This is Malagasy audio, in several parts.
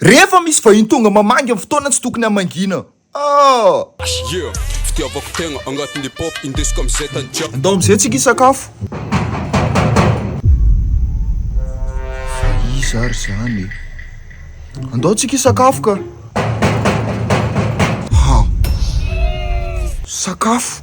Rehefa misy vahiny tonga mamangy amin'ny fotoana tsy tokony hamangiana ah. Yeah, fitiavako tegna agnatin'ny hip hop indesiko amin'izay tany jiaby. Andao amin'izay tsika hisakafo. Fa iza ary zany e? Andao tsika hisakafo ka. Ha! Sakafo.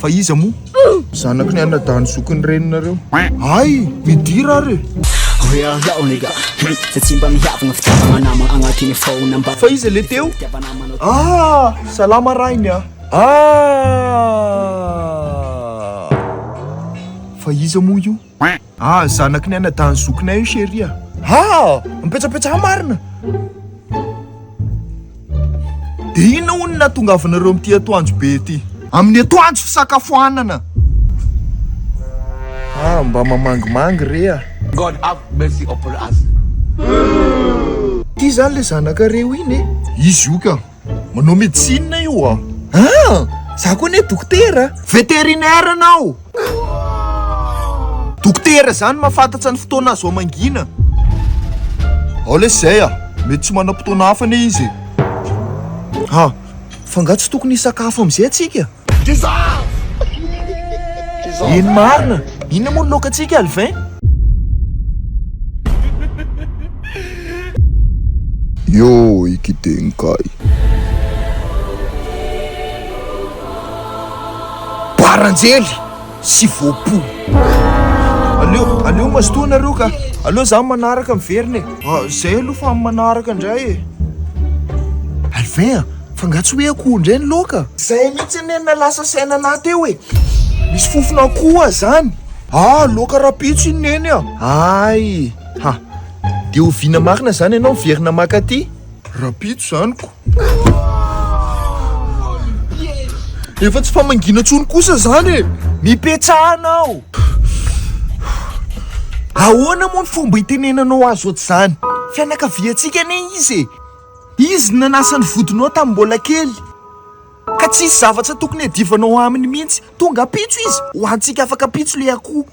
Fa iza moa? Zanaky ny anadahiny zoky ny reninareo. Hay! Midira ary e! Real yo nigga Hum, Zay tsy mba mihavagna Fitiavagna namagna agnatin'ny phone ambany Fa iza le teo? Fitiavagna namagna Ah! Salama rainy a! Ah! Fa iza moa io? Ah zanaky ny anadahin'ny zokinay io chérie a! Ah! Mipetsapetsa ahy marina! Dia inona hono ny nahatongavanareo amin'ity atoandro be ity? Amin'ny atoandro fisakafoanana! Ah, mba mamangimangy re a! God have mercy upon us. Ty zany le zanaka reo iny e! Izy io ka! Manao médecine io a! Ah! Za koa anie dokotera! Vétérinaire anao! Dokotera izany mahafantatra ny fotoana azo hamangina. Ao lesy izay a! Mety tsy manam-potoana hafa anie izy e! Ah! Fa nga tsy tokony hisakafo amin'izay tsika? Eny marina! Inona moa ny lokantsika Alvin? Yo Ikidenkai. Baranjely sy voapo. Aleo, aleo mazotoa nareo ka. Aleo za manaraka miverina e. Zay aloha fa manaraka indray e. Alvin a! Fa nga tsy hoe akoho ndray ny loaka? Zay mihitsy anie no nalasa saina anah teo e! Misy fofon'akoho ah zany! Ah loaka rapitso iny neny ah! Ay! Ha! Dia oviana marina zany ianao miverina maka aty? Rapitso zany ko! Efa tsy famangiana intsony kosa zany e! Mipetsahana aho! Ahoana moa ny fomba hitenenanao azy ohatr'izany? Fianakaviantsika anie izy e! Izy no nanasa ny vodinao tamin'ny mbola kely, ka tsy hisy zavatra tokony hiadivanao aminy mihitsy. Tonga ampitso Izy, ho antsika afaka ampitso ilay akoho.